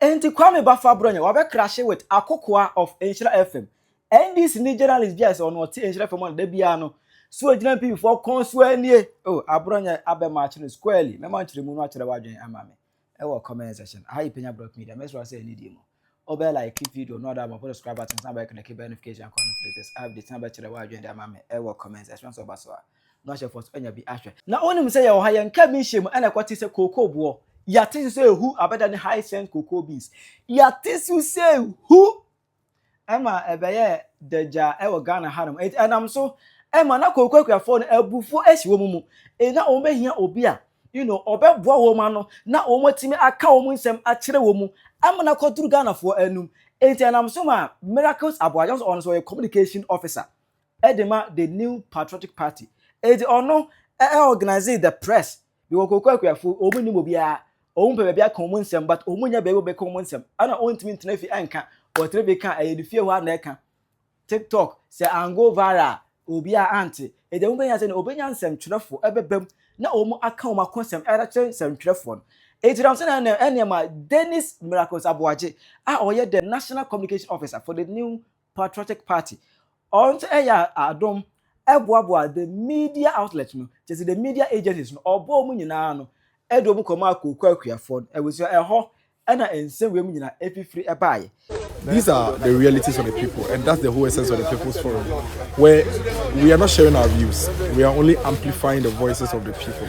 Enti Kwame Baffa Bronyah wabɛkrahye with Akokoa of Nhyira FM. NDC ni journalist bi a sɛ ɔno ɔte Nhyira FM a da biara no so agyina mpibifoɔ kɔn so anie. Oh, Abronyah abɛ march no squarely. Mɛma nkyerɛmu no akyerɛ w'adwene ama me ɛwɔ comment section. Aha yɛ Penya Brock Media. Mɛsrɛ wo sɛ anidie mu wobɛ like video no ada abɔpo subscribe button san bɛkleke bɛ notification akɔn no for latest updates na bɛkyerɛ w'adwene de ama me ɛwɔ comment section. Sɛ ɔba so a. na wahyɛ fɔs anya bi ahwɛ. Na wonim sɛ yɛwɔ ha, yɛnkaa bi nhyiam ɛna ɛkɔte sɛ kookoo boɔ. Yɛate so sɛ ehu abɛda ne hyacinth cocoa beans. Yɛate so sɛ ehu! Ɛma ɛbɛyɛɛ dagya wɔ Ghana hanom. Enti ɛnam so ma na kookoo akuafoɔ no abufuo asi wɔn mu. Enti na wɔbɛhia obi a you know, ɔbɛboa wɔn ano na wɔatumi aka wɔn nsɛm akyerɛ wɔn mu ama no akɔduru Ghanafoɔ anom. Enti ɛnam so maa Miracles Aboagye, ɔno nso ɔyɛ communication officer. de ma The New Patriotic Party. Enti ɔno organise the press because Koko Akuafo wɔn nnim obiara. Wɔn pɛ baabi aka wɔn nsɛm but wɔn nya baabi wɔbɛka wɔn nsɛm. Ɛna wɔntumi ntena fi ɛnka. Wɔtena fi ka ɛyɛ ne fie hɔ a na ɛka. TikTok sɛ ango viral a obiara ante. Enti ɛho bɛhia sɛ na obɛnya nsɛmtwerɛfoɔ ɛbɛba mu na wɔn aka wɔn akɔsɛm ɛde kyerɛ nsɛmtwerɛfoɔ no. Enti nam sɛ na ɛna ɛna ɛma Dennis Miracles Aboagye a ɔyɛ the National Communication Officer for the New Patriotic Party, ɔno nso yɛ adom boaboa the media outlet no, kyerɛ sɛ the media agencies no, ɔbɔɔ wɔn nyinaa ano de wɔn kɔmaa Kooko akuafoɔ no, abusua, ɛhɔ na nsɛm wei mu nyinaa fifiri baeɛ. These are the realities of the people and that's the whole essence of the People's Forum where we are not sharing our views, we are only amplifying the voices of the people.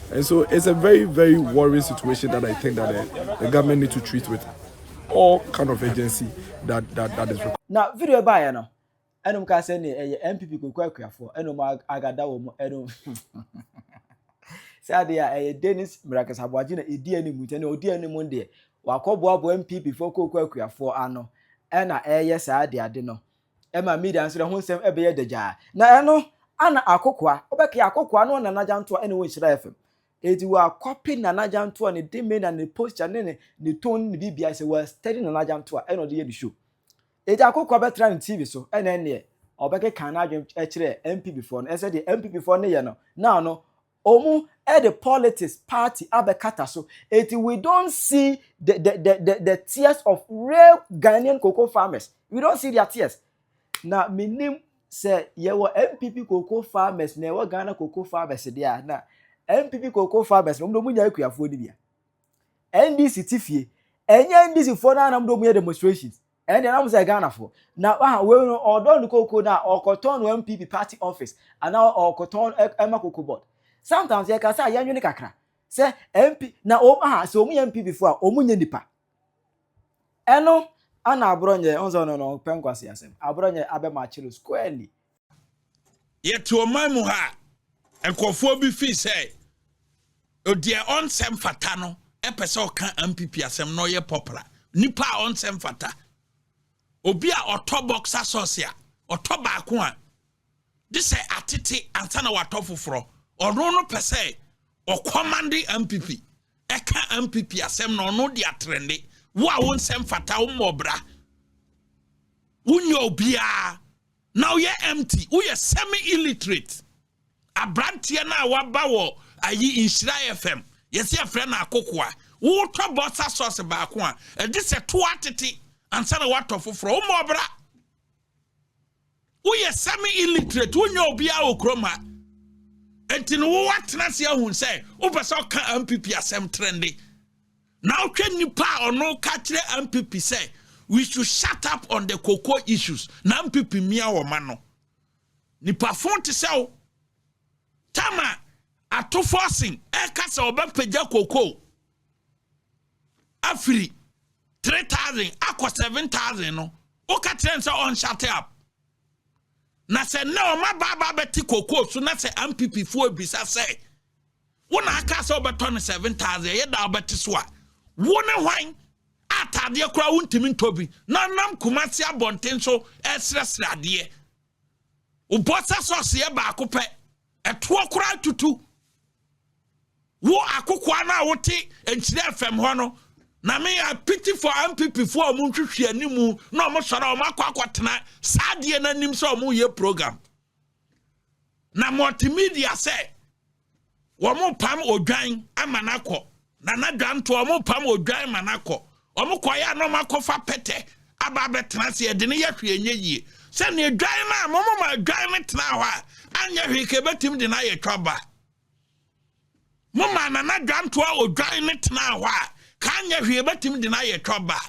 And so it's a very, very worrying situation that I think that the, the government need to treat with all kind of urgency that, that, that is required. Now, video by you know. ɛnum ka sɛ ne ɛyɛ npp koko akuafoɔ ɛnum agada wɔn ɛnum sɛ adeɛ a ɛyɛ dennis miracle sabuagye na ɛdi anim nti ɛna ɔdi anim deɛ wakɔboaboa npp foɔ koko akuafoɔ ano ɛna ɛyɛ saa adeade no Ɛma Media nsra ho nsɛm bɛyɛ dagyaa. Na ɛno, ana akokoa, wobɛkae akokoa no Nana Gyantoa ɛna ɛwɔ Nhyira FM. Eti wa copy Nana Gyantoa ne demeanor ne posture ne ne ne tone ne biribiara sɛ wa study Nana Gyantoa ɛna ɔde yɛ ne show. Eti akokoa bɛtra ne TV so ɛna ɛneɛ ɔbɛkeka n'adwene kyerɛ MPP foɔ no ɛsɛ deɛ MPP foɔ no yɛ no na ɔno Ɔmo de politics party abɛkata so nti we don't see the the the the the tears of real Ghanaian cocoa farmers we don't see their tears na menim sɛ yɛwɔ NPP cocoa farmers na ɛwɔ Ghana cocoa farmers deɛ a na NPP cocoa farmers na ɔmo de ɔmo nya akuafoɔ no bia NDC ti fie ɛnyɛ NDC foɔ no ara na ɔmo de ɔmo yɛ demonstrations Ɛnde na ɔmo sɛ Ghanafo. Na waha wei no ɔɔdɔ no koko na ɔɔkɔtɔn no NPP party office anaa ɔɔkɔtɔn ɛma koko board. Sometimes yɛka sɛ a yɛnwene kakra sɛ MP na ɔmo aha sɛ ɔmo yɛ NPP fo a ɔmo nyɛ nipa. Ɛno ana aborɔnyɛ, ɔhu sɛ ɔno no ɔpɛ nkwasiasɛm, aborɔnyɛ abɛmatch no squarely. yɛte ɔman mu ha a nkurɔfoɔ bi fii sɛ deɛ ɔnsɛ mfata no ɛpɛ sɛ ɔka mpp asɛm na ɔyɛ pɔpra nipa a ɔnsɛ mfata obi a ɔtɔ box asɔse a ɔtɔ baako a de sɛ atete ansa na watɔ foforɔ ɔno no pɛ sɛ ɔkɔmande mpp ɛka mpp asɛm na ɔno de atrɛnde wo a wonsɛ mfata wo mmɔbra wonyɛ obiara na woyɛ empty woyɛ semi illiterate abranteɛ no a waba wɔ ayi nhyira fm yɛsi yɛfrɛ no akokoa wotɔ bɔsa sauce baako a ɛgye sɛ to atete ansa na watɔ foforɔ woma ɔbra woyɛ semi illiterate wonya obiara wɔ kurom ha nti no wowatena ase ahu sɛ wopɛ sɛ ɔka mpp asɛm trende Now hwɛ nnipa a ɔno ka kyerɛ ampipi sɛ we should shut up on the cocoa issues na ampipi mmea wɔn ano. Nipa fon te sɛ wo. Tama ato forcing ɛka sɛ ɔbɛpagya cocoa afiri 3000 akɔ 7000 no woka kyerɛ n sɛ ɔnshut up. Na sɛ nnɛ ɔma baaba bɛte cocoa so na sɛ ampipi foɔ ebisa sɛ Wo na akaa sɛ wobɛtɔ no seven thousand ɛyɛ da wobɛte so a wo ne hwan a ataadeɛ koraa wontumi ntɔ bi na nam Kumasi abɔnten so ɛresrɛsrɛ adeɛ wobɔ sɛ sɔseɛ baako pɛ ɛtoɔ koraa tutu wo akokoa no a wote nkyerɛ fam hɔ no na me a pity for MPP foɔ a wɔn nhwehwɛ animu na wɔn sɔrɔ wɔn akɔ akɔtena saa adeɛ n'anim sɛ wɔn yɛ program. na multimedia sɛ wɔn pam odwan ama no akɔ nana dwantoɔ wɔn pam odwan ma no akɔ wɔn kɔyɛ anam akɔfa pɛtɛ aba abɛtena ase ɛde no yɛ hwee nyɛ yie sɛnea dwan no a wɔn ma dwan no tena hɔ a anyɛ hwee ka ebɛtumi de no ayɛ twa ba mo ma nana dwantoɔ odwan no tena hɔ a ka anyɛ hwee ebɛtumi de no ayɛ twa ba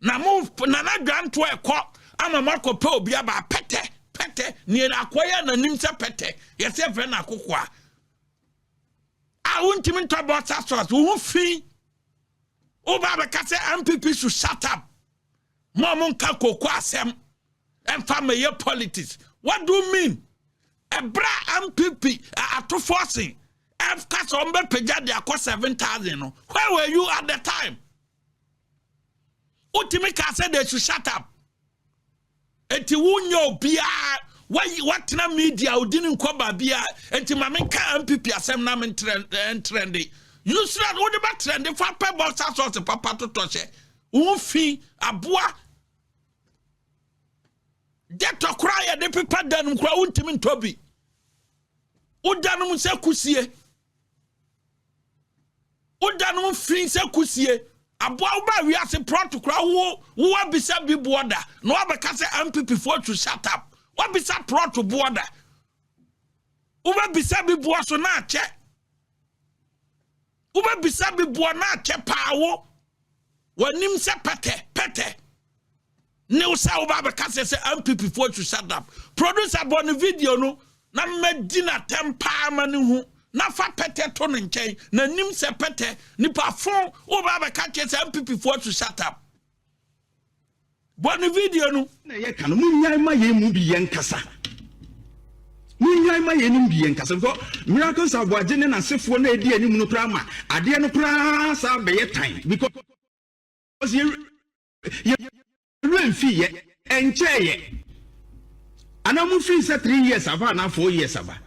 na mo na na dwanto ɛkɔ ama mo akɔ pɛ obi aba pɛtɛ pɛtɛ nea akɔ yɛ na nim sɛ pɛtɛ yɛsɛ fɛ na akoko a a wontumi ntɔ bɔsa sɔs wo ho fi woba bɛka sɛ mpp so shut up mo a monka koko asɛm ɛmfa mɛyɛ politics what do you mean ɛberɛ a mpp atofoɔ se ɛka sɛ ɔmbɛpagya de akɔ 7000 no where were you at the time wotumi kaa sɛ they should shut up enti wonyɛ obiara watena media odi ne nkɔ baabia enti ma menka mpp asɛm na mentrɛnde eh, yusra no wode bɛtrɛnde fa pɛ bɔsa sɔse papa totɔ hyɛ wo fi aboa dɛtɔ koraa yɛde pepa danom koraa wontumi ntɔ bi wodanom sɛ kusie Woda no mfiri sɛ kusie. Aboa wo baa wiase prɔt kora wo wo abisa bi boɔ da na wabɛka sɛ MPP foɔ to shut up. Wabisa prɔt boɔ da. Wobɛbisa bi boɔ so na akyɛ. Wobɛbisa bi boɔ na akyɛ paa wo. W'anim sɛ pɛtɛ pɛtɛ. New sɛ woba bɛka sɛ sɛ MPP foɔ should shut up. Producer bɔ ne video no na mɛdi no atɛm paa ma ne hu na fa pɛtɛ to ne nkyɛn na nim sɛ pɛtɛ nipa fo woba bɛka kyerɛ sɛ MPP foɔ should shut up. Bɔ ne video no. Na yɛ ka no mo nyan ma yɛn mu bi yɛn nkasa mo nyan ma yɛn mu bi yɛn nkasa bkɔ miracles aboagye ne n'asefoɔ na edi anim no koraa ma adeɛ no koraa saa bɛyɛ tan because yɛ. Yɛn werɛ mfii yɛ. Ɛnkyɛɛ yɛ. Anaa mo firi sɛ three years aba anaa four years aba.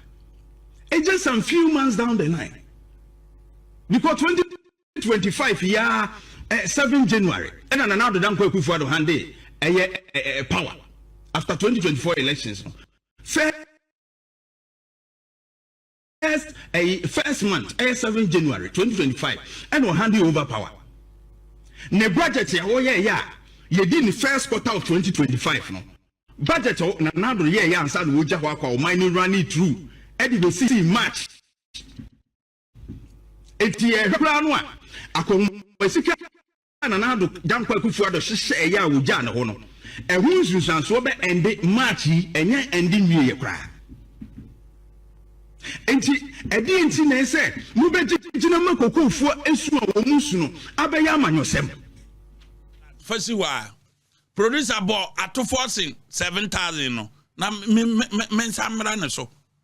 It's just some few months down the line. Because twenty twenty five yaa eh, seven January ɛna Nana Addo Dankwa Akufo Addo hande ɛyɛ eh, eh, power after twenty twenty four elections no. Fair First ɛyi first month ɛyɛ seven January twenty twenty five ɛna ɔhan de over power ne budget a ɔyɛ ɛyɛ a yɛdi ne first quarter of twenty twenty five no budget a na n'adoro yɛ ɛyɛ ansa na ɔgya hɔ akɔ a ɔman ne running through ɛde bɛ si March eti yɛ hwɛ koraa no a akɔnwoma sika. Nana Addo Dankwa Akufo-Addo hyehyɛɛ yɛ a wɔgyaa ne hɔ no, ɛho nsunsuansoɔ bɛ ɛnde March yi, ɛnyɛ ɛnde nwieɛ koraa. Enti, ɛdeɛn nti na ɛsɛ mobɛgyina ma kokofoɔ su a wɔn mu su no abɛyɛ amanyɔsɛm? Fa si hɔ a, producer bɔ atofoɔ sen 7000 no na me nsa mmra ne so.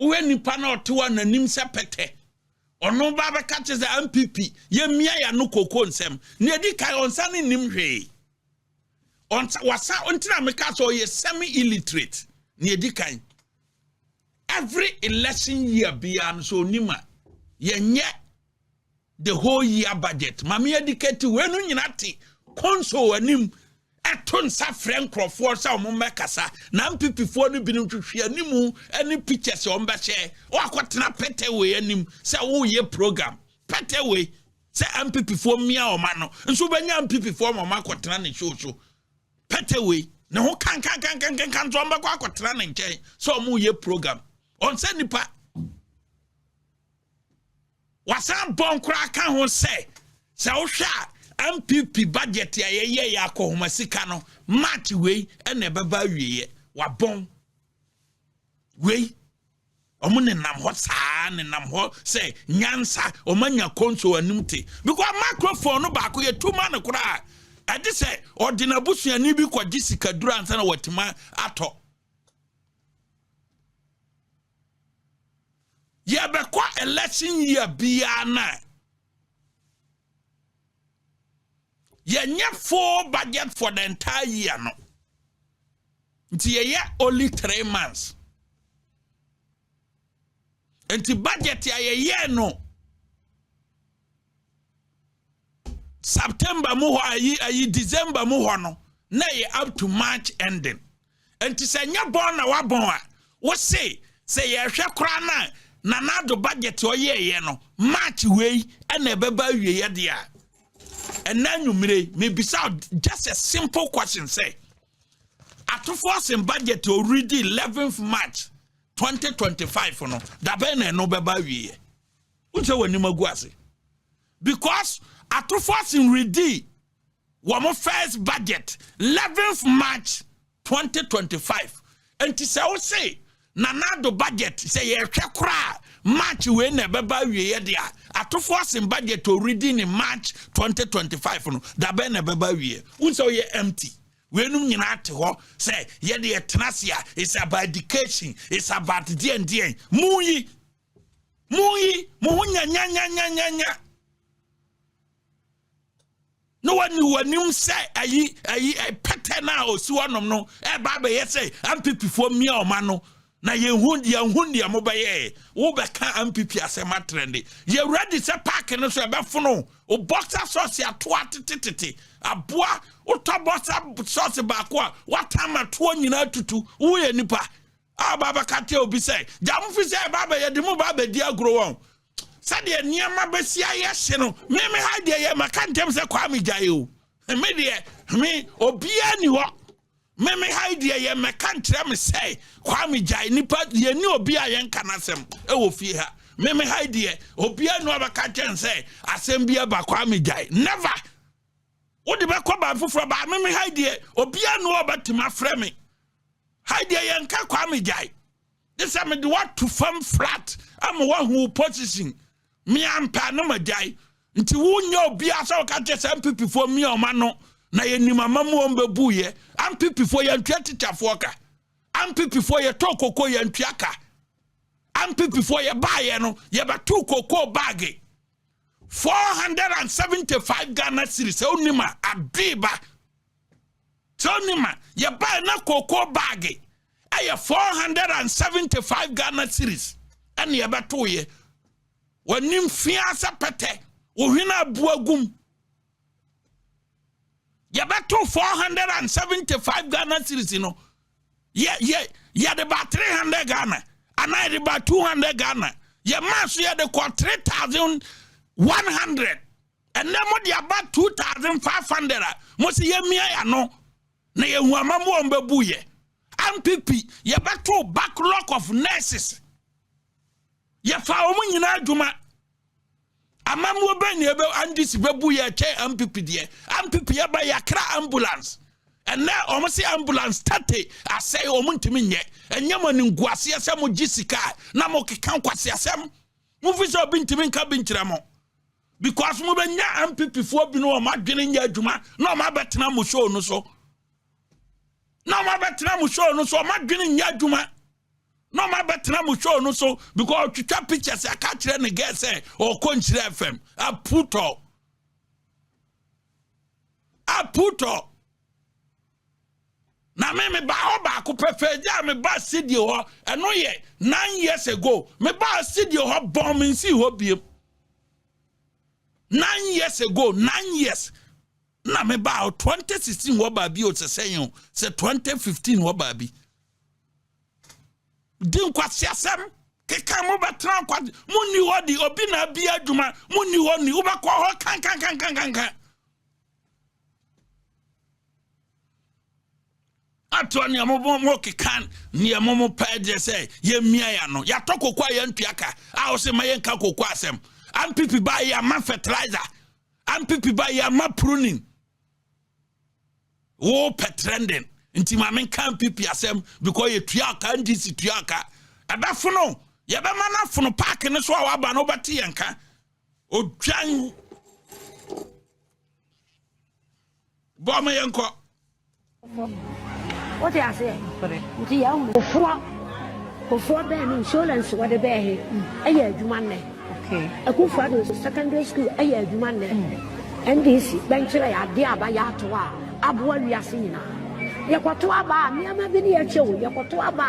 Wohwɛ nnipa no a ɔte hɔ a n'anim sɛ pɛtɛ. Ɔno ba bɛka kyerɛ sɛ MPP, yɛmmia yɛ ano kooko nsɛm. Nea ɛdi kan, ɔnsa ne nnim hwee. Ɔnsa, wasa, ntina meka sɛ ɔyɛ semi-illiterate. Nea ɛdi kan. Every election year biara no sɛ ɔnim a, yɛnyɛ the whole year budget mame adikati wei no nyina te console anim ɛto nsa frɛ nkurɔfoɔ sɛ wɔn mmɛkasa na mpipifoɔ no binom twitwi anim ne pictures wɔn bɛhyɛ wɔakɔtena pɛtɛwei anim sɛ woyɛ program pɛtɛwei sɛ mpipifoɔ mmea wɔn ano nso wobɛnya mpipifoɔ ma wɔn akɔtena ne show so pɛtɛwei ne ho kankankankankan nso wɔn bɛkɔ akɔtena ne nkyɛn sɛ wɔyɛ program wɔn sɛ nipa Wɔasan bɔ nkora ka ho sɛ, sɛ wohwɛ a, NPP budget a yɛyɛeɛ akɔhoma sika no, March wei na ɛbɛba awieeɛ. Wɔabɔn wei. Wɔn nenam hɔ saa, nenam hɔ sɛ nyansa, wɔn anya kɔnso anim te. Because microphone no baako yɛ tu ma no koraa. Ɛde sɛ ɔde n'abusuani bi kɔgye sikaduro ansa na watumi atɔ. yɛbɛkɔ election year biara na yɛnyɛ full budget for the entire year no nti yɛyɛ only three months nti budget a yɛyɛ no September mu hɔ ayi ayi December mu hɔ no na yɛ up to March ending nti sɛ nyɛ bɔn na wabɔn a wose sɛ yɛhwɛ koraa na Nana Addo budget ɔyɛɛyɛ no March wei ɛna ɛbɛba awieɛ deɛ a ɛnna anwummere mebisa just a simple question sɛ atofoɔ sen budget already 11th March 2025 no dabɛn na ɛno bɛba awieɛ wosɛ w'anim agu ase Because atofoɔ no redi wɔn first budget 11th March 2025 nti sɛ wo se Nana Addo budget sɛ yɛhwɛ koraa March wei na ɛbɛba awieɛ de a atofoɔ sen budget already ne March 2025 no dabɛn na ɛbɛba awieɛ wo sɛ woyɛ empty weinom nyinaa te hɔ sɛ yɛde yɛtena ase a it's about education it's about deɛn deɛn mu yi Monyi mo ho nyanyanyanyanya na wɔne w'anim sɛ ayi ayi pɛtɛ no a ɔsi hɔnom no ɛba abɛyɛ sɛ ampipifoɔ mmea ɔma no na yɛnhu yɛnhu deɛ mobɛyɛ wobɛka ampipi asɛm atrɛnde yɛwura de sɛ paake no so ɛbɛfono o bɔksa sɔɔse atoa tetetete aboa wotɔ bɔksa sɔɔse baako a woatama toɔ nyinaa tutu woyɛ nipa Aba abɛka kyerɛ obi sɛ, gya mo fi sɛ ɛba abɛ yɛde mo ba abɛdi agorɔ wɔn. Sɛdeɛ nneɛma bɛsi ayɛ hye no, me me ha deɛ yɛ maka ntɛm sɛ kwaa me gyae o. Me deɛ, me obiara ni hɔ. Me me ha deɛ yɛ mɛka nkyerɛ me sɛ kwaa me gyae nipa yɛni obi a yɛnka n'asɛm ɛwɔ fie ha. Me me ha deɛ obiara ni hɔ bɛka kyɛn sɛ asɛm bi ɛba kwaa me gyae. Never! Wode bɛkɔ baa foforɔ baa me me hai deɛ obiara no ɔbɛtumi afrɛ me hai deɛ yɛnka kwaa me gyae de sɛ mede woato fam flat ama woahu wo position meampɛ no magyae nti wonyɛ obiara sɛ woka kyɛ sɛ mpipifoɔ mmia ɔma no na yɛnim ama mu ɔm bɛbuiɛ ampipifoɔ yɛntua tikyafoɔ ka ampipifoɔ yɛtɔ koko yɛntua ka ampipifoɔ yɛbaeɛ no yɛbɛto koko baage four hundred and seventy five ghana series sɛ wonim a adwee ba sɛ wonim a yɛbae na kookoo baage ɛyɛ four hundred and seventy five ghana series ɛne yɛbɛtoeɛ w'anim fia sɛ pɛtɛ wo hwene abu agum yɛbɛto 475 ghana series no yɛ yɛ yɛde ba 300 ghana anaa yɛde ba 200 ghana yɛ maa so yɛde kɔ 3100 ɛnna mo de aba 2500 a mo si yɛ mia ya no na yɛ hu ama mo wɔn bɛ bu yɛ ampipi yɛbɛto backlog of nurses yɛfa wɔn nyinaa adwuma. Amammuo bɛn na ɛbɛ NDC bɛbu yɛ kyɛn ampipi deɛ ampipi yɛ ba yɛakra ambulance ɛnɛ wɔn se ambulance tɛte asɛe wɔn ntumi nyɛ ɛnyɛ mo animguaseɛ sɛ mo gye sika na mo keka nkwasi asɛm mo fi sɛ obi ntumi nka bi nkyerɛ mo because mo bɛ nya ampipi foɔ bi no wɔn adwene nyɛ adwuma na wɔn abɛtena mo show no so na wɔn abɛtena mo show no so wɔn adwene nyɛ adwuma. na ɔma bɛtena mo show no so because ɔtwitwa pictures aka kyerɛ ne girl sɛ ɔkɔ nkyerɛ fam aputɔ aputɔ na me me ba hɔ baako pɛ fɛgya a me ba studio hɔ ɛno yɛ nine years ago me ba studio hɔ bɔn me nsi hɔ biem nine years ago nine years na me ba 2016 hɔ baabi o sɛ sɛn o sɛ 2015 hɔ baabi. di nkwaseasɛm keka mo bɛtena nkwa mo nni hɔ di obi na abi adwuma mo nni hɔ ni wobɛkɔ hɔ kankankankankankan ato nea mo mo keka nea mo mo pɛ deɛ sɛ yɛmmia ya no yɛatɔ koko a yɛntua ka a wo sɛ ma yɛnka koko asɛm ampipi ba yɛ ama fertilizer ampipi ba yɛ ama pruning wo pɛ trending nti ma me nka npp asɛm because yɛtua aka ndc tua aka ɛbɛfono yɛbɛma no afono paake no so a waba no wobɛte yɛn ka odwan bɔ ma yɛnkɔ wote aseɛ nti yɛwo kofoɔ kofoɔ bɛɛ no insurance wɔde bɛɛ he ɛyɛ adwuma nnɛ Akufo Addo nso secondary school yɛ adwuma nnɛ. NDC bɛnkyerɛ yɛ adeɛ aba yɛ ato a aboa wiase nyinaa. Yɛkɔto aba a nneɛma bi ne yɛ kyɛ o, yɛkɔto aba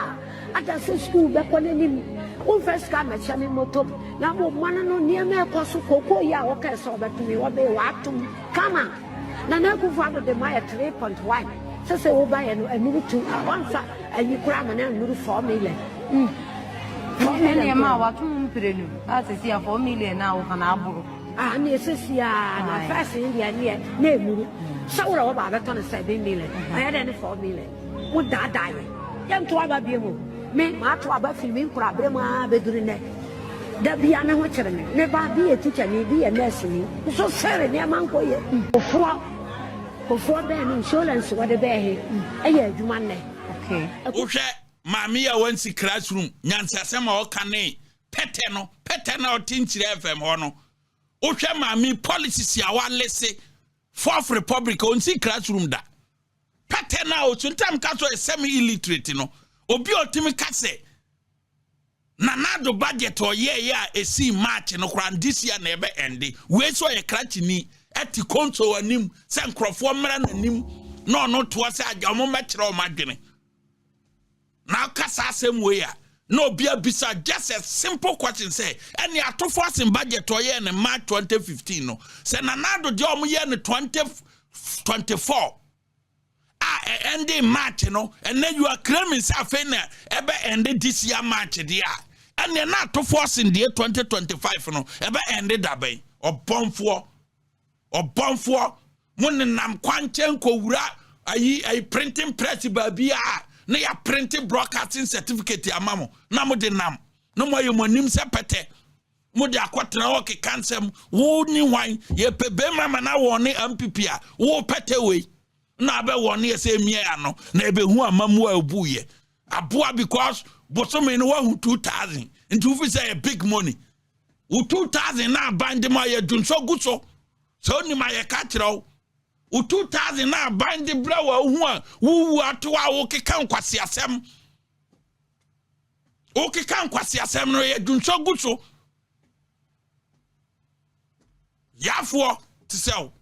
a ada sɛ school bɛkɔ n'anim. Womfa sika mmɛkyɛ me moto na mmom mma no no nneɛma ɛkɔ so kookoo yi a wokae sɛ ɔbɛto me ɔbee w'atom kama. Nana Akufo Addo de ma yɛ three point one sɛ sɛ woba yɛ no anuru two a wɔnsa ayi koraa ma no anuru four million. Mm. Four million. Ɛne ɛma a wato mu mpire no a sɛ si a four million a woka no aboro. Ah, ne ɛsɛ si a na fɛs ne deɛ ne yɛ na ɛnuru. Sɛ wura wɔba abɛtɔ no seven million. Ɛyɛ dɛ ne four million. Mo daadaa yɛn. Yɛnto aba biom o. Me, mato aba firi me nkorabere mu ara bɛduru nnɛ. Da biara ne ho kyere me. Me ba, bi yɛ tikyani, bi yɛ nɛɛseni. Nso sere, nneɛma nkɔ yie. Mm. Kofoɔ, Kofoɔ bɛn no nsuolɛnse wɔde bɛɛ he yɛ adwuma nnɛ? Okay. Wohwɛ maame yi a wansi classroom nyansasɛm a ɔka ne pɛtɛ no, pɛtɛ no a ɔte nkyerɛ FM hɔ no. Wohwɛ maame yi policies a walese, fourth republic, ɔnsi classroom da. Pɛtɛ no a ɔtu ntam ka sɛ ɔyɛ semi illiterate no, obi a ɔtumi ka sɛ Nana Addo budget a ɔyɛeɛ a ɛsii March no koraa this year na ɛbɛ ɛnde. Wei sɛ ɔyɛ krakyeni ɛte konso anim sɛ nkurɔfoɔ mmra n'anim na ɔno toa sɛ agya wɔn mmɛkyerɛ wɔn adwene. Na ɔka saa asɛm wei a, na obi abisa just a simple question sɛ, ɛne atofo asen budget ɔyɛɛ no March 2015 no, sɛ Nana Addo deɛ ɔmo yɛ no 2024 a ɛnde March no, ɛnɛ you are claiming sɛ afei na ɛbɛ ɛnde this year March deɛ a, ɛneɛ na atofo asen deɛ 2025 no, ɛbɛ ɛnde dabɛn? Ɔbɔnfoɔ. ɔbɔnfoɔ mo nenam kwankyɛn nkɔwura ayi ayi printing press baabi a na yɛ printing broadcasting certificate ama mo na mo de nam na mo ayɛ mo anim sɛ pɛtɛ mo de akɔtena hɔ keka nsɛm wo ni hwan yɛpɛ bɛrima ma na wɔn ne mpp a wo pɛtɛ wei na abɛ wɔn ne yɛ sɛ emia ano na ebehu amamu a ebu yɛ aboa because bosome no wahu two thousand nti wofi sɛ yɛ big money wo 2000 na aban de ma yɛ dwonsɔ gu so sɛ wonim a yɛka kyerɛ wo wo 2000 na aban de brɛ wɔ ahu a wowu ato a wokeka nkwaseasɛm wokeka nkwaseasɛm no yɛ dwonsɔ gu so yafoɔ te sɛ wo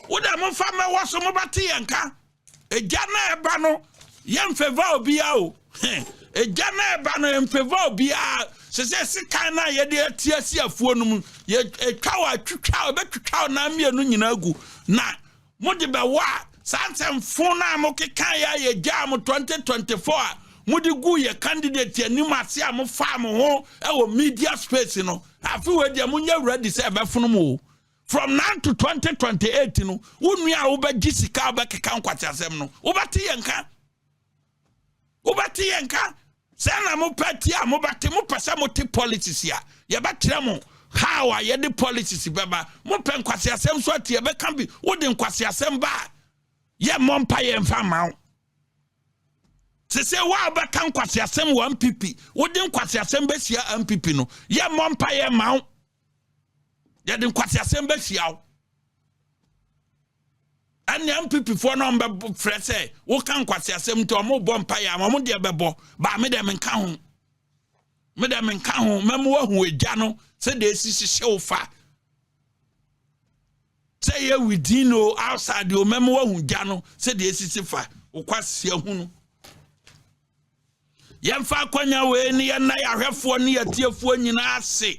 wo dɛ momfa mmɛwɔ so mobɛte yɛn ka egya na ɛba no yɛmfɛva obiara o egya na ɛba no yɛmfɛva obiara sɛ sɛ sekan no a yɛde ati asi afuo no mu yɛtwa wɔ atwitwa ɛbɛtwitwa ɔnaa mmienu nyinaa gu na Mo de bɛwɔ a, saa nsɛm fon no a mo kekaeɛ a yɛgyaa mo 2024 a mo de guu yɛn candidate anim ase a mo faa mo ho wɔ media space no, afe wei deɛ mo nyɛ ready sɛ ɛbɛfono mo o. From now to 2028 no, wo nua a wo bɛgye sika a wo bɛkeka nkwaseasɛm no, wo bɛte yɛn nka. wobɛte yɛ nka sɛ na mopɛ te a mobɛte mopɛ sɛ mote politics a yɛbɛkyerɛ mo how a yɛde politics bɛba mopɛ nkwaseasɛm so ate yɛbɛka bi wode nkwaseasɛm ba a yɛmmɔ mpa yɛmfa mma wo te sɛ wo a wobɛka nkwaseasɛm wɔ mpp wode nkwaseasɛm bɛhyia mpp no yɛmmɔ mpa yɛmma wo yɛde nkwaseasɛm bɛhyia wo ɛnea mpipifoɔ no ɔmbɛfrɛ sɛ woka nkwasi asɛm nti ɔmobɔ mpaeɛ ama ɔmo deɛ bɛbɔ baa me deɛ menka ho me deɛ menka ho mɛmo wahu agya no sɛ deɛ ɛsi hyehyɛ wo fa sɛ yɛ within o outside o mɛmo wahu gya no sɛ deɛ ɛsisi fa wokwasi ahu no yɛmfa akwanya wei ne yɛnna yɛahwɛfoɔ ne yɛtiefoɔ nyinaa ase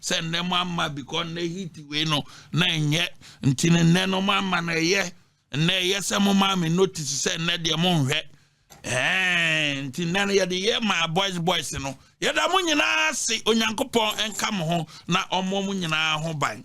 sɛ nnɛ mo ama because nnɛ heat wei no na ɛnyɛ nti no nnɛ no mo ama no ɛyɛ nnɛ ɛyɛ sɛ mo maa me notice sɛ nnɛ deɛ mo nhwɛ ɛɛ nti nnɛ no yɛde yɛ maa boys boys no yɛda mo nyinaa se onyankopɔn nka mo ho na ɔmmɔ mo nyinaa ho ban.